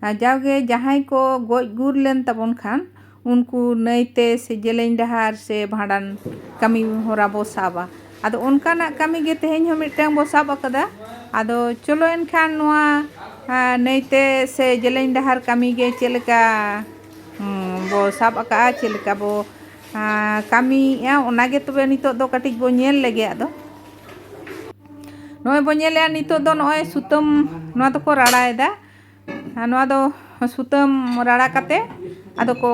ᱡᱟᱣᱜᱮ ᱡᱟᱦᱟᱸᱭ ᱠᱚ ᱜᱚᱡ ᱜᱩᱨ ᱞᱮᱱ ᱛᱟᱵᱚᱱ ᱠᱷᱟᱱ ᱩᱱᱠᱩ ᱱᱟᱹᱭᱛᱮ ᱥᱮ ᱡᱮᱞᱮᱧ ᱰᱟᱦᱟᱨ ᱥᱮ ᱵᱷᱟᱸᱰᱟᱱ ᱠᱟᱹᱢᱤ ᱦᱚᱨᱟ ᱵᱚᱱ ᱥᱟᱵᱟ ᱟᱫᱚ ᱚᱱᱠᱟᱱᱟᱜ ᱠᱟᱹᱢᱤ ᱜᱮ ᱛᱮᱦᱮᱧ ᱦᱚᱸ ᱢᱤᱫᱴᱟᱝ ᱵᱚᱱ ᱥᱟᱵ ᱟᱠᱟᱫᱟ ᱟᱫᱚ ᱪᱚᱞᱚ ᱮᱱᱠᱷᱟᱱ ᱱᱚᱣᱟ ᱱᱟᱹᱭᱛᱮ ᱥᱮ ᱡᱮᱞᱮᱧ ᱰᱟᱦᱟᱨ ᱠᱟᱹᱢᱤ ᱜᱮ ᱪᱮᱫ ᱞᱮᱠᱟ ᱵᱚᱱ ᱥᱟᱵ ᱟᱠᱟᱫᱼᱟ ᱪᱮᱫ ᱞᱮᱠᱟ ᱵᱚᱱ ᱠᱟᱹᱢᱤᱭᱮᱫᱼᱟ ᱚᱱᱟ ᱜᱮ ᱛᱚᱵᱮ ᱱᱤᱛᱳᱜ ᱫᱚ ᱠᱟᱹᱴᱤᱡ ᱵᱚᱱ ᱧᱮᱞ ᱞᱮᱜᱮ ᱟᱫᱚ ᱱᱚᱜᱼᱚᱭ ᱵᱚᱱ ᱧᱮᱞᱮᱫᱼᱟ ᱱᱤᱛᱳᱜ ᱫᱚ ᱱᱚᱜᱼᱚᱭ ᱥᱩᱛᱟᱹᱢ ᱱᱚᱣᱟ ᱫᱚᱠᱚ ᱨᱟᱲᱟᱭᱮᱫᱟ ᱟᱨ ᱱᱚᱣᱟ ᱫᱚ ᱥᱩᱛᱟᱹᱢ ᱨᱟᱲᱟ ᱠᱟᱛᱮ ᱟᱫᱚ ᱠᱚ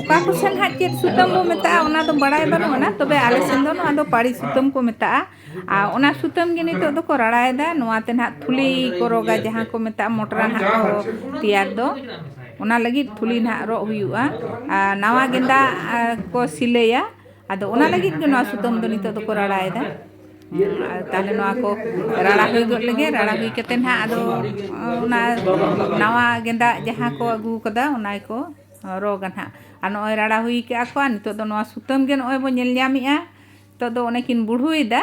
ᱚᱠᱟ ᱠᱚ ᱥᱮᱱ ᱦᱟᱸᱜ ᱪᱮᱫ ᱥᱩᱛᱟᱹᱢ ᱵᱚ ᱢᱮᱛᱟᱜᱼᱟ ᱚᱱᱟ ᱫᱚ ᱵᱟᱲᱟᱭ ᱵᱟᱹᱱᱩᱜ ᱟᱱᱟ ᱛᱚᱵᱮ ᱟᱞᱮ ᱥᱮᱱ ᱫᱚ ᱱᱚᱣᱟ ᱫᱚ ᱯᱟᱹᱲᱤ ᱥᱩᱛᱟᱹᱢ ᱠᱚ ᱢᱮᱛᱟᱜᱼᱟ ᱟᱨ ᱚᱱᱟ ᱥᱩᱛᱟᱹᱢ ᱜᱮ ᱱᱤᱛᱚᱜ ᱫᱚᱠᱚ ᱨᱟᱲᱟᱭᱮᱫᱟ ᱱᱚᱣᱟ ᱛᱮ ᱱᱟᱦᱟᱜ ᱛᱷᱩᱞᱤ ᱠᱚ ᱨᱚᱜᱟ ᱡᱟᱦᱟᱸ ᱠᱚ ᱢᱮᱛᱟᱜᱼᱟ ᱢᱚᱴᱨᱟ ᱱᱟᱦᱟᱜ ᱠᱚ ᱛᱮᱭᱟᱨ ᱫᱚ ᱚᱱᱟ ᱞᱟᱹᱜᱤᱫ ᱛᱷᱩᱞᱤ ᱱᱟᱦᱟᱜ ᱨᱚᱜ ᱦᱩᱭᱩᱜᱼᱟ ᱟᱨ ᱱᱟᱣᱟ ᱜᱮᱸᱫᱟᱜ ᱠᱚ ᱥᱤᱞᱟᱹᱭᱟ ᱟᱫᱚ ᱚᱱᱟ ᱞᱟᱹᱜᱤᱫ ᱜᱮ ᱱᱚᱣᱟ ᱥᱩᱛᱟᱹᱢ ᱫᱚ ᱱᱤᱛᱚᱜ ᱫᱚᱠᱚ ᱨᱟᱲᱟᱭᱮᱫᱟ ᱛᱟᱦᱞᱮ ᱱᱚᱣᱟ ᱠᱚ ᱨᱟᱲᱟ ᱦᱩᱭ ᱜᱚᱫ ᱞᱮᱜᱮ ᱨᱟᱲᱟ ᱦᱩᱭ ᱠᱟᱛᱮ ᱱᱟᱜ ᱟᱫᱚ ᱚᱱᱟ ᱱᱟᱣᱟ ᱜᱮᱸᱫᱟᱜ ᱡᱟᱦᱟᱸ ᱠᱚ ᱟᱹᱜᱩ ᱠᱟᱫᱟ ᱚᱱᱟ ᱜᱮᱠᱚ ᱨᱚᱜᱟ ᱱᱟᱜ ᱟᱨ ᱱᱚᱜᱼᱚᱭ ᱨᱟᱲᱟ ᱦᱩᱭ ᱠᱟᱜᱼᱟ ᱠᱚ ᱟᱨ ᱱᱤᱛᱚᱜ ᱫᱚ ᱱᱚᱣᱟ ᱥᱩᱛᱟᱹᱢ ᱜᱮ ᱱᱚᱜᱼᱚᱭ ᱵᱚᱱ ᱧᱮᱞ ᱧᱟᱢᱮᱜᱼᱟ ᱱᱤᱛᱚᱜ ᱫᱚ ᱚᱱᱮ ᱠᱤᱱ ᱵᱩᱲᱦᱩᱭᱮᱫᱟ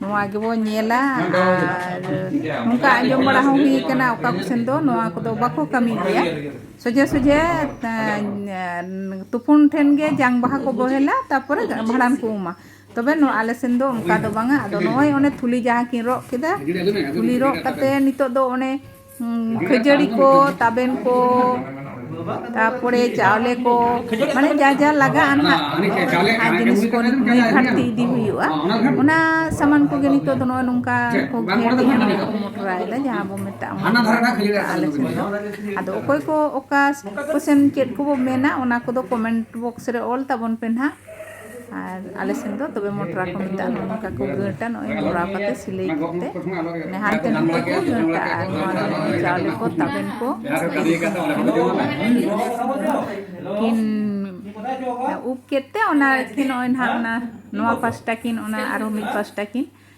ᱱᱚᱣᱟ ᱜᱮᱵᱚᱱ ᱧᱮᱞᱟ ᱟᱨ ᱱᱚᱝᱠᱟ ᱟᱸᱡᱚᱢ ᱵᱟᱲᱟ ᱦᱚᱸ ᱦᱩᱭ ᱠᱟᱱᱟ ᱚᱠᱟ ᱠᱚᱥᱮᱱ ᱫᱚ ᱱᱚᱣᱟ ᱠᱚᱫᱚ ᱵᱟᱠᱚ ᱠᱟᱹᱢᱤ ᱜᱮᱭᱟ ᱥᱚᱡᱷᱮ ᱥᱚᱡᱷᱮ ᱛᱩᱯᱩᱱ ᱴᱷᱮᱱ ᱜᱮ ᱡᱟᱝ ᱵᱟᱦᱟ ᱠᱚ ᱵᱚᱦᱮᱞᱟ ᱛᱟᱨᱯᱚᱨᱮ ᱵᱷᱟᱸᱰᱟᱱ ᱠᱚ ᱩᱢᱟ ᱛᱚᱵᱮ ᱱᱚᱣᱟ ᱟᱞᱮ ᱥᱮᱱ ᱫᱚ ᱚᱱᱠᱟ ᱫᱚ ᱵᱟᱝᱟ ᱟᱫᱚ ᱱᱚᱜᱼᱚᱭ ᱚᱱᱮ ᱛᱷᱩᱞᱤ ᱡᱟᱦᱟᱸ ᱠᱤᱱ ᱨᱚᱜ ᱠᱮᱫᱟ ᱛᱷᱩᱞᱤ ᱨᱚᱜ ᱠᱟᱛᱮᱫ ᱱᱤᱛᱳᱜ ᱫᱚ ᱚᱱᱮ ᱠᱷᱟᱹᱡᱟᱹᱲᱤ ᱠᱚ ᱛᱟᱵᱮᱱ ᱠᱚ ᱛᱟᱨᱯᱚᱨᱮ ᱪᱟᱣᱞᱮ ᱠᱚ ᱢᱟᱱᱮ ᱡᱟ ᱡᱟ ᱞᱟᱜᱟᱜᱼᱟ ᱱᱟᱦᱟᱜ ᱡᱤᱱᱤᱥ ᱠᱚ ᱱᱩᱭ ᱜᱷᱟᱴᱛᱤ ᱤᱫᱤ ᱦᱩᱭᱩᱜᱼᱟ ᱚᱱᱟ ᱥᱟᱢᱟᱱ ᱠᱚᱜᱮ ᱱᱤᱛᱚᱜ ᱫᱚ ᱱᱚᱜᱼᱚᱭ ᱱᱚᱝᱠᱟ ᱠᱚ ᱜᱷᱮᱨᱮᱫᱼᱟ ᱢᱟᱱᱮ ᱠᱚ ᱢᱚᱴᱨᱟᱭᱮᱫᱟ ᱡᱟᱦᱟᱸ ᱵᱚ ᱢᱮᱛᱟᱜᱼᱟ ᱢᱚᱴᱨᱟ ᱟᱞᱮ ᱥᱮᱫ ᱫᱚ ᱟᱫᱚ ᱚᱠᱚᱭ ᱠᱚ ᱚᱠᱟ ᱠᱚᱥᱮᱱ ᱪᱮᱫ ᱠᱚᱵᱚ ᱢᱮᱱᱟ ᱚᱱᱟ ᱠᱚᱫᱚ ᱠᱚᱢᱮᱱᱴ ᱵᱚᱠᱥ ᱨᱮ ᱚᱞ ᱛᱟᱵᱚᱱ ᱯᱮ ᱱᱟᱦᱟᱜ ᱟᱨ ᱟᱞᱮ ᱥᱮᱱ ᱫᱚ ᱛᱚᱵᱮ ᱢᱚᱴᱨᱟ ᱠᱚ ᱢᱮᱛᱟᱜᱼᱟ ᱱᱚᱜᱼᱚ ᱱᱚᱝᱠᱟ ᱠᱚ ᱜᱟᱹᱴᱟ ᱱᱚᱜᱼᱚᱭ ᱢᱚᱲᱟᱣ ᱠᱟᱛᱮ ᱥᱤᱞᱟᱹᱭ ᱠᱟᱛᱮ ᱢᱟᱱᱮ ᱦᱟᱱᱛᱮ ᱱᱟᱛᱮ ᱠᱚ ᱜᱟᱹᱴᱟ ᱟᱨ ᱱᱚᱣᱟ ᱫᱚ ᱱᱚᱜᱼᱚᱭ ᱪᱟᱣᱞᱮ ᱠᱚ ᱛᱟᱵᱮᱱ ᱠᱚ ᱠᱤᱱ ᱩᱵ ᱠᱮᱫ ᱛᱮ ᱚᱱᱟ ᱠᱤᱱ ᱱᱚᱜᱼᱚᱭ ᱱᱟᱦᱟᱜ ᱚᱱᱟ ᱱᱚᱣᱟ ᱯᱟᱥᱴᱟ ᱠᱤᱱ ᱚᱱᱟ ᱟᱨᱚ ᱢᱤᱫ ᱯᱟᱥᱴᱟ ᱠᱤᱱ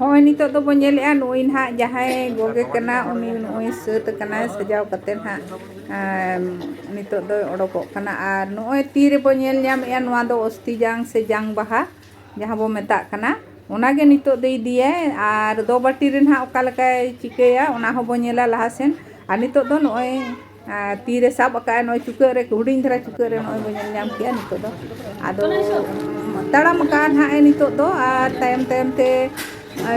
ᱦᱚᱸᱜᱼᱚᱭ ᱱᱤᱛᱚᱜ ᱫᱚᱵᱚᱱ ᱧᱮᱞᱮᱜᱼᱟ ᱱᱩᱭ ᱱᱟᱦᱟᱜ ᱡᱟᱦᱟᱸᱭ ᱜᱚᱜᱮ ᱠᱟᱱᱟ ᱩᱱᱤ ᱱᱚᱜᱼᱚᱭ ᱥᱟᱹᱛ ᱟᱠᱟᱱᱟᱭ ᱥᱟᱡᱟᱣ ᱠᱟᱛᱮ ᱱᱟᱦᱟᱜ ᱱᱤᱛᱚᱜ ᱫᱚᱭ ᱚᱰᱚᱠᱚᱜ ᱠᱟᱱᱟ ᱟᱨ ᱱᱚᱜᱼᱚᱭ ᱛᱤ ᱨᱮᱵᱚᱱ ᱧᱮᱞ ᱧᱟᱢᱮᱜᱼᱟ ᱱᱚᱣᱟ ᱫᱚ ᱚᱥᱛᱤ ᱡᱟᱝ ᱥᱮ ᱡᱟᱝ ᱵᱟᱦᱟ ᱡᱟᱦᱟᱸ ᱵᱚ ᱢᱮᱛᱟᱜ ᱠᱟᱱᱟ ᱚᱱᱟᱜᱮ ᱱᱤᱛᱳᱜ ᱫᱚᱭ ᱤᱫᱤᱭᱟᱭ ᱟᱨ ᱫᱚ ᱵᱟᱹᱴᱤ ᱨᱮ ᱱᱟᱜ ᱚᱠᱟ ᱞᱮᱠᱟᱭ ᱪᱤᱠᱟᱹᱭᱟ ᱚᱱᱟ ᱦᱚᱸ ᱵᱚ ᱧᱮᱞᱟ ᱞᱟᱦᱟ ᱥᱮᱱ ᱟᱨ ᱱᱤᱛᱳᱜ ᱫᱚ ᱱᱚᱜᱼᱚᱭ ᱛᱤ ᱨᱮ ᱥᱟᱵ ᱟᱠᱟᱫ ᱟᱭ ᱱᱚᱜᱼᱚᱭ ᱪᱩᱠᱟᱹᱜ ᱨᱮ ᱦᱩᱰᱤᱧ ᱫᱷᱟᱨᱟ ᱪᱩᱠᱟᱹᱜ ᱨᱮ ᱱᱚᱜᱼᱚᱭ ᱵᱚ ᱧᱮᱞ ᱧᱟᱢ ᱠᱮᱜᱼᱟ ᱱᱤᱛᱳᱜ ᱫᱚ ᱟᱫᱚ ᱛᱟᱲᱟᱢ ᱟᱠᱟᱫ ᱟᱭ ᱱᱟᱜ ᱱᱤᱛᱳᱜ ᱫᱚ ᱟᱨ ᱛᱟᱭᱚᱢ ᱛᱟᱭᱚᱢ ᱛᱮ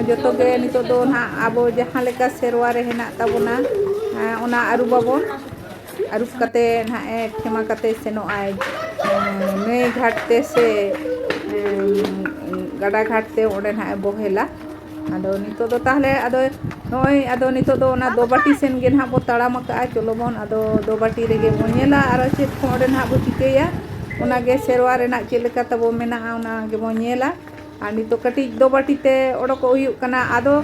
ᱡᱚᱛᱚ ᱜᱮ ᱱᱤᱛᱳᱜ ᱫᱚ ᱱᱟᱜ ᱟᱵᱚ ᱡᱟᱦᱟᱸ ᱞᱮᱠᱟ ᱥᱮᱨᱣᱟ ᱨᱮ ᱦᱮᱱᱟᱜ ᱛᱟᱵᱚᱱᱟ ᱚᱱᱟ ᱟᱹᱨᱩᱵᱟᱵᱚᱱ ᱟᱹᱨᱩᱵ ᱠᱟᱛᱮ ᱱᱟᱦᱟᱜ ᱮ ᱠᱷᱮᱢᱟ ᱠᱟᱛᱮ ᱥᱮᱱᱚᱜ ᱟᱭ ᱱᱟᱹᱭ ᱜᱷᱟᱴ ᱛᱮ ᱥᱮ ᱜᱟᱰᱟ ᱜᱷᱟᱴ ᱛᱮ ᱚᱸᱰᱮ ᱱᱟᱦᱟᱜ ᱮ ᱵᱚᱦᱮᱞᱟ ᱟᱫᱚ ᱱᱤᱛᱳᱜ ᱫᱚ ᱛᱟᱦᱚᱞᱮ ᱟᱫᱚ ᱱᱚᱜᱼᱚᱭ ᱟᱫᱚ ᱱᱤᱛᱳᱜ ᱫᱚ ᱚᱱᱟ ᱫᱚᱵᱟᱹᱴᱤ ᱥᱮᱱ ᱜᱮ ᱱᱟᱦᱟᱜ ᱵᱚᱱ ᱛᱟᱲᱟᱢ ᱟᱠᱟᱫᱼᱟ ᱪᱚᱞᱚ ᱵᱚᱱ ᱟᱫᱚ ᱫᱚᱵᱟᱹᱴᱤ ᱨᱮᱜᱮ ᱵᱚᱱ ᱧᱮᱞᱟ ᱟᱨᱚ ᱪᱮᱫ ᱠᱚ ᱚᱸᱰᱮ ᱱᱟᱦᱟᱜ ᱵᱚᱱ ᱪᱤᱠᱟᱹᱭᱟ ᱚᱱᱟᱜᱮ ᱥᱮᱨᱣᱟ ᱨᱮᱱᱟᱜ ᱪᱮᱫ ᱞᱮᱠᱟ ᱛᱟᱵᱚᱱ ᱢᱮᱱᱟᱜᱼᱟ ᱚᱱᱟ ᱜᱮᱵᱚᱱ ᱧᱮᱞᱟ ᱟᱨ ᱱᱤᱛᱚᱜ ᱠᱟᱹᱴᱤᱡ ᱫᱚ ᱵᱟᱹᱴᱤ ᱛᱮ ᱚᱰᱚᱠᱚᱜ ᱦᱩᱭᱩᱜ ᱠᱟᱱᱟ ᱟᱫᱚ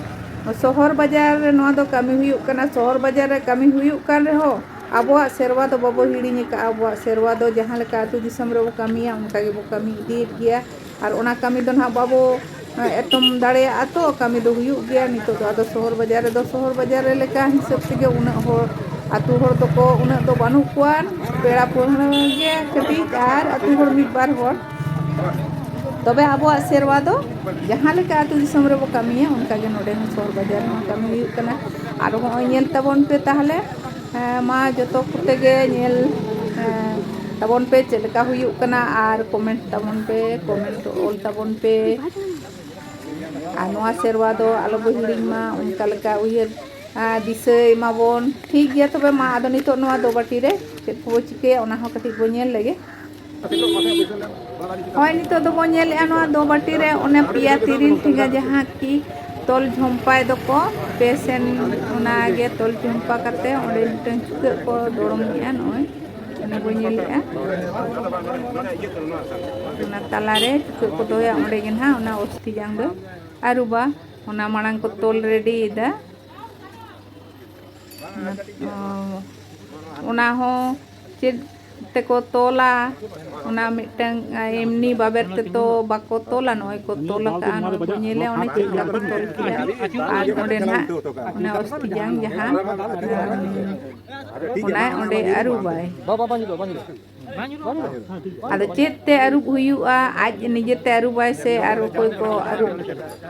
ᱥᱚᱦᱚᱨ ᱵᱟᱡᱟᱨ ᱨᱮ ᱱᱚᱣᱟ ᱫᱚ ᱠᱟᱹᱢᱤ ᱦᱩᱭᱩᱜ ᱠᱟᱱᱟ ᱥᱚᱦᱚᱨ ᱵᱟᱡᱟᱨ ᱨᱮ ᱠᱟᱹᱢᱤ ᱦᱩᱭᱩᱜ ᱠᱟᱱ ᱨᱮᱦᱚᱸ ᱟᱵᱚᱣᱟᱜ ᱥᱮᱨᱣᱟ ᱫᱚ ᱵᱟᱵᱚ ᱦᱤᱲᱤᱧ ᱟᱠᱟᱫᱼᱟ ᱟᱵᱚᱣᱟᱜ ᱥᱮᱨᱣᱟ ᱫᱚ ᱡᱟᱦᱟᱸ ᱞᱮᱠᱟ ᱟᱛᱳ ᱫᱤᱥᱚᱢ ᱨᱮᱵᱚ ᱠᱟᱹᱢᱤᱭᱟ ᱚᱱᱠᱟ ᱜᱮᱵᱚ ᱠᱟᱹᱢᱤ ᱤᱫᱤᱭᱮᱫ ᱜᱮᱭᱟ ᱟᱨ ᱚᱱᱟ ᱠᱟᱹᱢᱤ ᱫᱚ ᱱᱟᱦᱟᱜ ᱵᱟᱵᱚ ᱮᱛᱚᱢ ᱫᱟᱲᱮᱭᱟᱜᱼᱟ ᱛᱚ ᱠᱟᱹᱢᱤ ᱫᱚ ᱦᱩᱭᱩᱜ ᱜᱮᱭᱟ ᱱᱤᱛᱚᱜ ᱫᱚ ᱟᱫᱚ ᱥᱚᱦᱚᱨ ᱵᱟᱡᱟᱨ ᱨᱮᱫᱚ ᱥᱚᱦᱚᱨ ᱵᱟᱡᱟᱨ ᱨᱮ ᱞᱮᱠᱟ ᱦᱤᱥᱟᱹᱵ ᱛᱮᱜᱮ ᱩᱱᱟᱹᱜ ᱦᱚᱲ ᱟᱛᱳ ᱦᱚᱲ ᱫᱚᱠᱚ ᱩᱱᱟᱹᱜ ᱫᱚ ᱵᱟᱹᱱᱩᱜ ᱠᱚᱣᱟ ᱯᱮᱲᱟ ᱯᱟᱹᱲᱦᱟᱹ ᱜᱮ ᱠᱟᱹᱴᱤᱡ ᱟᱨ ᱟᱛᱳ ᱦᱚᱲ ᱢᱤᱫ ᱵᱟᱨ ᱦᱚᱲ ᱛᱚᱵᱮ ᱟᱵᱚᱣᱟᱜ ᱥᱮᱨᱣᱟ ᱫᱚ ᱡᱟᱦᱟᱸ ᱞᱮᱠᱟ ᱟᱹᱛᱩ ᱫᱤᱥᱚᱢ ᱨᱮᱵᱚ ᱠᱟᱹᱢᱤᱭᱟ ᱚᱱᱠᱟ ᱜᱮ ᱱᱚᱰᱮ ᱦᱚᱸ ᱥᱚᱦᱚᱨ ᱵᱟᱡᱟᱨ ᱨᱮᱦᱚᱸ ᱠᱟᱹᱢᱤ ᱦᱩᱭᱩᱜ ᱠᱟᱱᱟ ᱟᱨ ᱦᱚᱸᱜᱼᱚᱭ ᱧᱮᱞ ᱛᱟᱵᱚᱱ ᱯᱮ ᱛᱟᱦᱚᱞᱮ ᱢᱟ ᱡᱚᱛᱚ ᱠᱚᱛᱮ ᱜᱮ ᱧᱮᱞ ᱛᱟᱵᱚᱱ ᱯᱮ ᱪᱮᱫ ᱞᱮᱠᱟ ᱦᱩᱭᱩᱜ ᱠᱟᱱᱟ ᱟᱨ ᱠᱚᱢᱮᱱᱴ ᱛᱟᱵᱚᱱ ᱯᱮ ᱠᱚᱢᱮᱱᱴ ᱚᱞ ᱛᱟᱵᱚᱱ ᱯᱮ ᱟᱨ ᱱᱚᱣᱟ ᱥᱮᱨᱣᱟ ᱫᱚ ᱟᱞᱚ ᱵᱚ ᱦᱤᱲᱤᱧ ᱢᱟ ᱚᱱᱠᱟ ᱞᱮᱠᱟ ᱩᱭᱦᱟᱹᱨ ᱫᱤᱥᱟᱹᱭ ᱢᱟᱵᱚᱱ ᱴᱷᱤᱠ ᱜᱮᱭᱟ ᱛᱚᱵᱮ ᱢᱟ ᱟᱫᱚ ᱱᱤᱛᱚᱜ ᱱᱚᱣᱟ ᱫᱚ ᱵᱟᱹᱴᱤ ᱨᱮ ᱪᱮᱫ ᱠᱚᱵᱚ ᱪᱤᱠᱟᱹᱭᱟ ᱚᱱᱟ ᱦᱚᱸ ᱠᱟᱹᱴᱤᱡ ᱵᱚ ᱧᱮᱞ ᱞᱮᱜᱮ ᱦᱳᱭ ᱱᱤᱛᱚᱜ ᱫᱚᱵᱚᱱ ᱧᱮᱞᱮᱜᱼᱟ ᱱᱚᱣᱟ ᱫᱚ ᱵᱟᱹᱴᱤ ᱨᱮ ᱚᱱᱮ ᱯᱮᱭᱟ ᱛᱤᱨᱤᱞ ᱴᱷᱮᱸᱜᱟ ᱡᱟᱦᱟᱸ ᱠᱤ ᱛᱚᱞ ᱡᱷᱚᱢᱯᱟᱭ ᱫᱚᱠᱚ ᱯᱮ ᱥᱮᱱ ᱚᱱᱟᱜᱮ ᱛᱚᱞ ᱡᱷᱚᱢᱯᱟ ᱠᱟᱛᱮ ᱚᱸᱰᱮ ᱢᱤᱫᱴᱟᱝ ᱪᱩᱠᱟᱹᱜ ᱠᱚ ᱫᱚᱲᱚᱢᱮᱜᱼᱟ ᱱᱚᱜᱼᱚᱭ ᱚᱱᱟ ᱵᱚᱱ ᱧᱮᱞᱮᱜᱼᱟ ᱚᱱᱟ ᱛᱟᱞᱟᱨᱮ ᱪᱩᱠᱟᱹᱜ ᱠᱚ ᱫᱚᱦᱚᱭᱟ ᱚᱸᱰᱮ ᱜᱮ ᱱᱟᱦᱟᱜ ᱚᱱᱟ ᱚᱥᱛᱷᱤ ᱡᱟᱝ ᱫᱚ ᱟᱹᱨᱩᱵᱟ ᱚᱱᱟ ᱢᱟᱲᱟᱝ ᱠᱚ ᱛᱚᱞ ᱨᱮᱰᱤᱭᱮᱫᱟ ᱚᱱᱟ ᱦᱚᱸ ᱪᱮᱫ ᱛᱮᱠᱚ ᱛᱚᱞᱟ ᱚᱱᱟ ᱢᱤᱫᱴᱟᱝ ᱮᱢᱱᱤ ᱵᱟᱵᱮᱨ ᱛᱮᱫᱚ ᱵᱟᱠᱚ ᱛᱚᱞᱟ ᱱᱚᱜᱼᱚᱭ ᱠᱚ ᱛᱚᱞ ᱟᱠᱟᱫᱼᱟ ᱱᱚᱜᱼᱚᱭ ᱵᱚᱱ ᱧᱮᱞᱮ ᱚᱱᱮ ᱪᱮᱫ ᱞᱮᱠᱟ ᱠᱚ ᱛᱚᱞ ᱠᱮᱫᱟ ᱟᱨ ᱚᱸᱰᱮ ᱱᱟᱦᱟᱜ ᱚᱱᱟ ᱚᱥᱛᱤ ᱡᱟᱝ ᱡᱟᱦᱟᱸ ᱚᱱᱟ ᱚᱸᱰᱮ ᱟᱹᱨᱩᱵᱟᱭ ᱟᱫᱚ ᱪᱮᱫ ᱛᱮ ᱟᱹᱨᱩᱵ ᱦᱩᱭᱩᱜᱼᱟ ᱟᱡ ᱱᱤᱡᱮᱛᱮ ᱟᱹᱨᱩᱵᱟᱭ ᱥᱮ ᱟᱨ ᱚᱠᱚᱭ ᱠᱚ ᱟᱹᱨᱩᱵ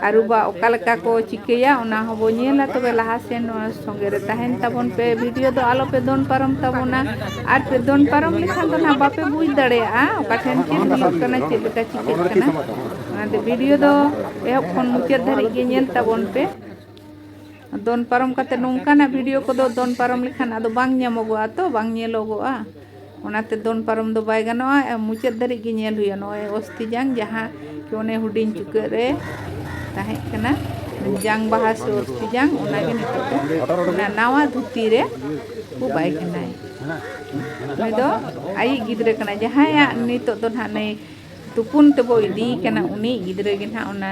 ᱟᱹᱨᱩᱵᱟ ᱚᱠᱟ ᱞᱮᱠᱟ ᱠᱚ ᱪᱤᱠᱟᱹᱭᱟ ᱚᱱᱟ ᱦᱚᱸ ᱵᱚ ᱧᱮᱞᱟ ᱛᱚᱵᱮ ᱞᱟᱦᱟ ᱥᱮᱱ ᱱᱚᱣᱟ ᱥᱚᱸᱜᱮ ᱨᱮ ᱛᱟᱦᱮᱱ ᱛᱟᱵᱚᱱ ᱯᱮ ᱵᱷᱤᱰᱤᱭᱳ ᱫᱚ ᱟᱞᱚ ᱯᱮ ᱫᱚᱱ ᱯᱟᱨᱚᱢ ᱛᱟᱵᱚᱱᱟ ᱟᱨ ᱯᱮ ᱫᱚᱱ ᱯᱟᱨᱚᱢ ᱞᱮᱠᱷᱟᱱ ᱫᱚ ᱱᱟᱦᱟᱜ ᱵᱟᱯᱮ ᱵᱩᱡᱽ ᱫᱟᱲᱮᱭᱟᱜᱼᱟ ᱚᱠᱟ ᱴᱷᱮᱱ ᱪᱮᱫ ᱦᱩᱭᱩᱜ ᱠᱟᱱᱟ ᱪᱮᱫ ᱞᱮᱠᱟ ᱪᱤᱠᱟᱹᱜ ᱠᱟᱱᱟ ᱚᱱᱟᱛᱮ ᱵᱷᱤᱰᱤᱭᱳ ᱫᱚ ᱮᱦᱚᱵ ᱠᱷᱚᱱ ᱢᱩᱪᱟᱹᱫ ᱫᱷᱟᱹᱨᱤᱡ ᱜᱮ ᱧᱮᱞ ᱛᱟᱵᱚᱱ ᱯᱮ ᱫᱚᱱ ᱯᱟᱨᱚᱢ ᱠᱟᱛᱮ ᱱᱚᱝᱠᱟᱱᱟᱜ ᱵᱷᱤᱰᱤᱭᱳ ᱠᱚᱫᱚ ᱫᱚᱱ ᱯᱟᱨᱚᱢ ᱞᱮᱠᱷᱟᱱ ᱟᱫᱚ ᱵᱟᱝ ᱧᱟᱢᱚᱜᱚᱜᱼᱟ ᱛᱚ ᱵᱟᱝ ᱧᱮᱞᱚᱜᱚᱜᱼᱟ ᱚᱱᱟᱛᱮ ᱫᱚᱱ ᱯᱟᱨᱚᱢ ᱫᱚ ᱵᱟᱭ ᱜᱟᱱᱚᱜᱼᱟ ᱢᱩᱪᱟᱹᱫ ᱫᱷᱟᱹᱨᱤᱡ ᱜᱮ ᱧᱮᱞ ᱦᱩᱭᱩᱜᱼᱟ ᱱᱚᱜᱼᱚᱭ ᱚᱥᱛᱤ ᱡᱟᱝ ᱡᱟᱦᱟᱸ ᱠᱤ ᱚᱱᱮ ᱦᱩᱰᱤᱧ ᱪᱩᱠᱟᱹᱜ ᱨᱮ ᱛᱟᱦᱮᱸ ᱠᱟᱱᱟ ᱡᱟᱝ ᱵᱟᱦᱟ ᱥᱮ ᱚᱥᱛᱤ ᱡᱟᱝ ᱚᱱᱟᱜᱮ ᱱᱤᱛᱚᱜ ᱫᱚ ᱚᱱᱟ ᱱᱟᱣᱟ ᱫᱷᱩᱛᱤ ᱨᱮ ᱠᱚ ᱵᱟᱭ ᱠᱟᱱᱟᱭ ᱩᱱᱤ ᱫᱚ ᱟᱭᱤᱡ ᱜᱤᱫᱽᱨᱟᱹ ᱠᱟᱱᱟᱭ ᱡᱟᱦᱟᱸᱭᱟᱜ ᱱᱤᱛᱚᱜ ᱫᱚ ᱱᱟᱦᱟᱜ ᱱᱩᱭ ᱛᱩᱯᱩᱱ ᱛᱮᱵᱚ ᱤᱫᱤᱭᱮ ᱠᱟᱱᱟ ᱩᱱᱤ ᱜᱤᱫᱽᱨᱟᱹ ᱜᱮ ᱱᱟᱦᱟᱜ ᱚᱱᱟ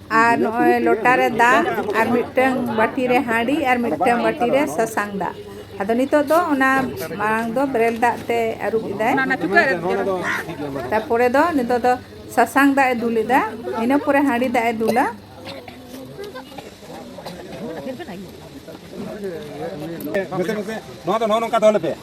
ᱟᱨ ᱱᱚᱜᱼᱚᱭ ᱞᱚᱴᱟ ᱨᱮ ᱫᱟᱜ ᱟᱨ ᱢᱤᱫᱴᱟᱝ ᱵᱟᱹᱴᱤ ᱨᱮ ᱦᱟᱺᱰᱤ ᱟᱨ ᱢᱤᱫᱴᱟᱝ ᱵᱟᱹᱴᱤ ᱨᱮ ᱥᱟᱥᱟᱝ ᱫᱟᱜ ᱟᱫᱚ ᱱᱤᱛᱚᱜ ᱫᱚ ᱚᱱᱟ ᱢᱟᱲᱟᱝ ᱫᱚ ᱵᱮᱨᱮᱞ ᱫᱟᱜ ᱛᱮ ᱟᱹᱨᱩᱵ ᱮᱫᱟᱭ ᱛᱟᱨᱯᱚᱨᱮ ᱫᱚ ᱱᱤᱛᱚᱜ ᱫᱚ ᱥᱟᱥᱟᱝ ᱫᱟᱜ ᱮ ᱫᱩᱞ ᱮᱫᱟ ᱤᱱᱟᱹ ᱯᱚᱨᱮ ᱦᱟᱺᱰᱤ ᱫᱟᱜ ᱮ ᱫᱩᱞᱟ ᱱᱚᱣᱟ ᱫᱚ ᱱᱚᱜᱼᱚ ᱱᱚᱝᱠᱟ ᱫᱚᱦᱚ ᱞᱮᱯᱮ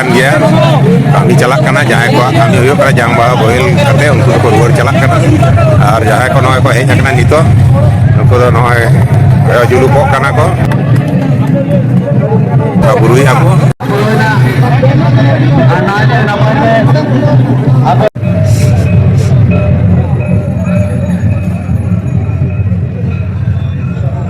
ᱠᱟᱱ ᱜᱮᱭᱟ ᱠᱟᱹᱢᱤ ᱪᱟᱞᱟᱜ ᱠᱟᱱᱟ ᱡᱟᱦᱟᱸᱭ ᱠᱚᱣᱟᱜ ᱠᱟᱹᱢᱤ ᱦᱩᱭᱩᱜ ᱠᱟᱱᱟ ᱡᱟᱝ ᱵᱟᱦᱟ ᱵᱚᱦᱮᱞ ᱠᱟᱛᱮ ᱩᱱᱠᱩ ᱫᱚᱠᱚ ᱨᱩᱣᱟᱹᱲ ᱪᱟᱞᱟᱜ ᱠᱟᱱᱟ ᱟᱨ ᱡᱟᱦᱟᱸᱭ ᱠᱚ ᱱᱚᱜᱼᱚᱭ ᱠᱚ ᱦᱮᱡ ᱟᱠᱟᱱᱟ ᱱᱤᱛᱚᱜ ᱩᱱᱠᱩ ᱫᱚ ᱱᱚᱜᱼᱚᱭ ᱠᱚᱭᱚᱜ ᱡᱩᱞᱩᱯᱚᱜ ᱠᱟᱱᱟ ᱠᱚ ᱵᱩᱨᱩᱭ ᱟᱠᱚ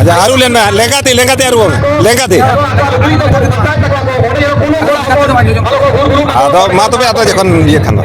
ᱟᱪᱪᱷᱟ ᱟᱹᱨᱩ ᱞᱮᱱ ᱢᱮ ᱞᱮᱸᱜᱟᱛᱮ ᱞᱮᱸᱜᱟᱛᱮ ᱟᱹᱨᱩ ᱢᱮ ᱞᱮᱸᱜᱟᱛᱮ ᱟᱫᱚ ᱢᱟ ᱛᱚᱵᱮ ᱟᱫᱚ ᱡᱚᱠᱷᱚᱱ ᱤᱭᱟᱹ ᱠᱷᱟᱱ ᱫᱚ